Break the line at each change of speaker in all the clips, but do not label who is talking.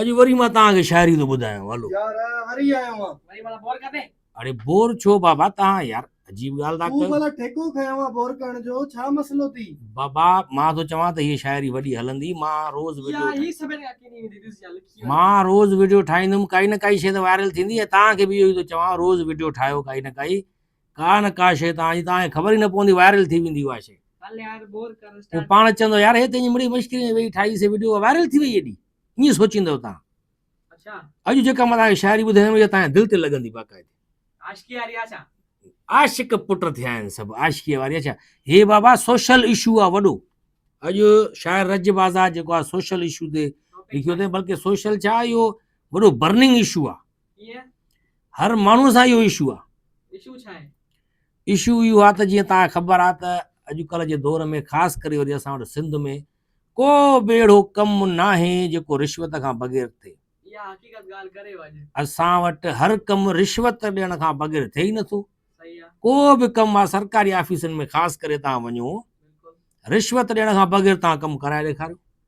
اڄ وري مان توهان کي شاعري ٿو ٻڌايان هلو يار وري آيو آهان
وري مالا بور ڪندي
اڙي بور ڇو
بابا توهان يار عجيب ڳالهه ٿا ڪيو تون مالا ٺيڪو کنيو
آهان بور ڪرڻ جو ڇا مسئلو ٿي بابا مان ٿو
چوان ته هي شاعري وڏي هلندي مان روز ويڊيو يار هي سڀن کان ڪيني ويندي ڏس يار
لکي مان روز ويڊيو
ٺاهيندم ڪائي نه ڪائي شي ته وائرل ٿيندي ۽ توهان کي به اهو ئي ٿو چوان روز ويڊيو ٺاهيو ڪائي نه ڪائي ڪا نه ڪا شيء تان جي تان کي خبر ئي نه پوندي وائرل ٿي ويندي اها شيء
پوء پاڻ چوندو يار
هي
تنهنجي
مڙئي مشڪري ۾ ويهي ٺاهي سي وڊيو وائرل ٿي وئي ايڏي ائين سوچيندو تان
اڄ جيڪا مان تان
کي شاعري ٻڌايم اها تان دل تي لڳندي باقاعدي عاشقي واري آ ڇا
عاشق پٽ
ٿيا آهن سڀ عاشقي واري آ ڇا هي بابا سوشل اشو آ وڏو اڄ شاعر رج بازار جيڪو آ سوشل اشو تي لکيو اٿئي بلڪه سوشل ڇا اهو وڏو برننگ اشو آ
هر ماڻهو
سان اهو اشو آ
اشو اهو
آ ته جيئن توهان کي خبر آ ته اڄڪلهه جي دور ۾ خاص ڪري وري اسان وٽ سنڌ ۾ ڪو به اهڙو ڪم ناهي جيڪو رشوت کان بغير ٿئي
اسان وٽ هر
ڪم رشوت ڏيڻ کان بغير ٿئي ئي نٿو ڪو
به ڪم آ
سرڪاري آفيسن ۾ خاص ڪري توهان وڃو
رشوت ڏيڻ کان
بغير توهان ڪم ڪرائي ڏيکاريو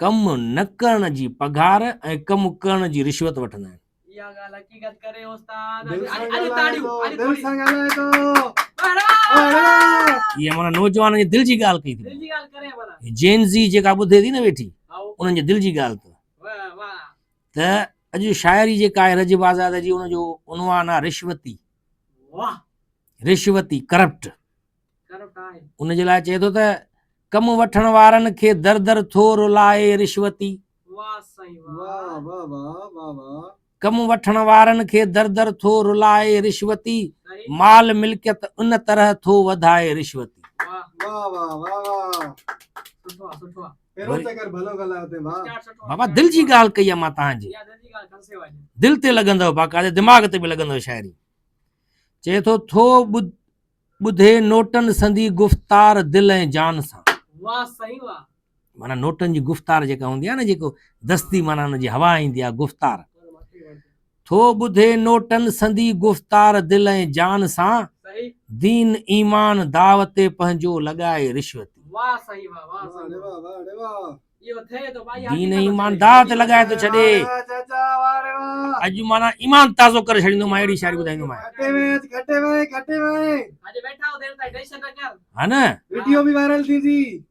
ڪم نه ڪرڻ جي پگهار ۽ ڪم ڪرڻ جي رشوت وٺندا آهن. اها
ڳالهه حقيقت ڪري استاد. دل
سان
ڳالهائي
ٿو دل سان
ڳالهائي ٿو هي مانا
نوجوانن جي دل جي ڳالهه ڪئي ٿي هي
جين زي جيڪا ٻڌي
ٿي نه ويٺي انهن جي دل جي
ڳالهه ته ته
اڄ شاعري جيڪا آهي رجب آزاد جي ان جو عنوان آهي رشوتي
رشوتي،
Corrupt،
ان جي لاء چئي ٿو ته
ڪم وٺڻ وارن کي در در ٿو رلائي رشوتي
ڪم وٺڻ
وارن کي در در ٿو رلائي رشوتي مال
ملڪيت
ان طرح ٿو وڌائي رشوتي
بابا دل جي
ڳالهه ڪئي
آ مان تهان جي
دل تي لڳندو
باقاعده دماغ تي به لڳندو شاعري چئي ٿو ٿو ٻڌي نوٽن سندي گفتار دل ۽ جان سان
مانا نوٽن
جي گفتار جيڪا هوندي آهي نه جيڪو دستي مانا ان جي هوا ايندي آهي گفتار ٿو ٻڌي نوٽن سندي گفتار دل ۽ جان سان دين ايمان دعوت پنهنجو لڳائي رشوت
دين ايمان داء تي
لڳائي
ٿو
ڇڏي
اڄ مانا ايمان
تازو ڪري ڇڏيندو مان اهڙي شاعري ٻڌائيندو
مان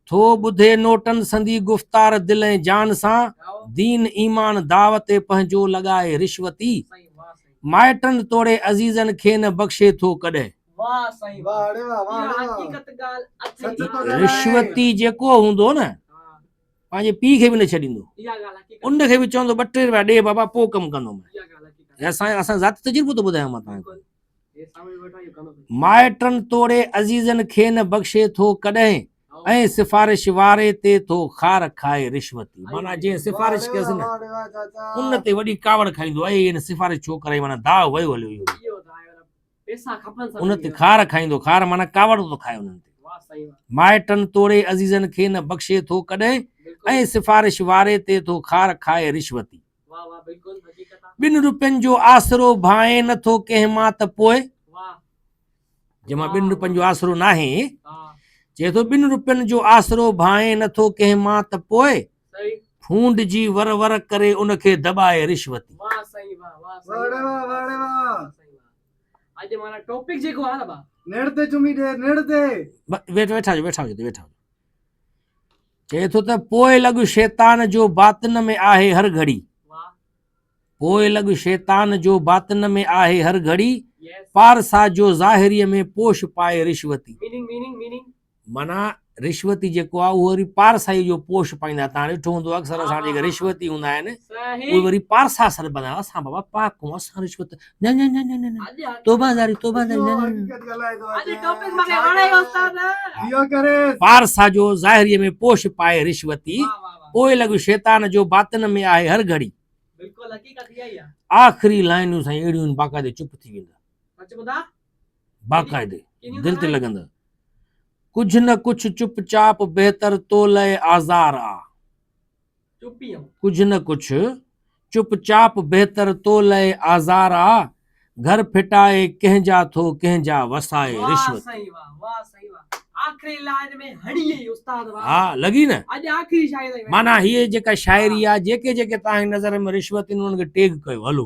ٿو ٻڌي
نوٽن سندي گفتار دل ۽ جان سان دين
ايمان
داء تي پنهنجو لڳائي رشوتي
مائٽن توڙي
عزيزن کي نه بخشي ٿو ڪڏهن
رشوتي جيڪو
هوندو نه پنهنجي
پيء کي
به نه ڇڏيندو ان
کي به چوندو ٻه ٽي
روپيا ڏي بابا پوء ڪم ڪندو اسان
اسان ذات تجربو
ٿو ٻڌايان مان تنهنجو
مائٽن توڙي
عزيزن کي نه بخشي ٿو ڪڏهن ۽ سفارش واري تي ٿو خار کائي رشوتي مانا جنهن سفارش ڪيس نه ان
تي وڏي ڪاوڙ
کائيندو اي ان سفارش ڇو ڪرائي مانا داء ويو هليو اهو
ان تي خار کائيندو
خار معنيٰ ڪاوڙ ٿو کائي انهن تي مائٽن
توڙي
عزيزن کي نه بخشي ٿو ڪڏهن ۽ سفارش
واري
تي ٿو خار کائي رشوتي
ٻن روپين جو آسرو
ڀانئي نه ٿو ڪنهن مان ته پوء
جنهن
مان ٻن روپين جو آسرو ناهي چئي
ٿو ٻن
روپين جو آسرو ڀانئي نه ٿو ڪنهن مان ته پوء ڦونڊ
جي ور
ور ڪري ان کي دٻائي رشوتي. واھ سائين واھ واھ سائين واھ
واھ واھ واھ سائين
واھ
اڄ مانا ٽوپڪ جيڪو آ نه با. نڙ تي چمي ڏي
نڙ تي. ويٺا ويٺا هجو
ويٺا هجو ويٺا هجو چئي ٿو ته پوء لڳ شيطان جو باطن ۾ آهي هر گھڙي
پوء
لڳ شيطان جو باطن ۾ آهي هر گھڙي پارسا
جو
ظاهري ۾ پوش پائي رشوتي
معنيٰ
رشوتي جيڪو آهي اهو وري پارسائي جو پوش پائيندا آهن تان ڏٺو هوندو اڪثر اسان جيڪي رشوتي هوندا آهن اهي وري پارسا
سر
بنا اسان بابا پاڪ هون اسان رشوت نه نه نه نه نه توبه
زاري توبه زاري نه
نه پارسا جو
ظاهري ۾ پوش پائي
رشوتي
پوء لڳو شيطان جو باطن ۾ آهي هر
گھڙي آخري لائنون سائين
اهڙيون باقاعده چپ ٿي ويندا
باقاعدي
دل تي
لڳندڙ
ڪجھ نه ڪجھ چپ چاپ بهتر تو لئه آزار آ
ڪجھ نه ڪجھ
چپ چاپ بهتر تو لئه آزار آ گهر ڦٽائي ڪنهن جا ٿو ڪنهن جا وسائي رشوت
ها لڳي نه معنيٰ هيء جيڪا
شاعري آ جيڪي جيڪي توهان جي نظر ۾ رشوت ان کي ٽيگ ڪيو هلو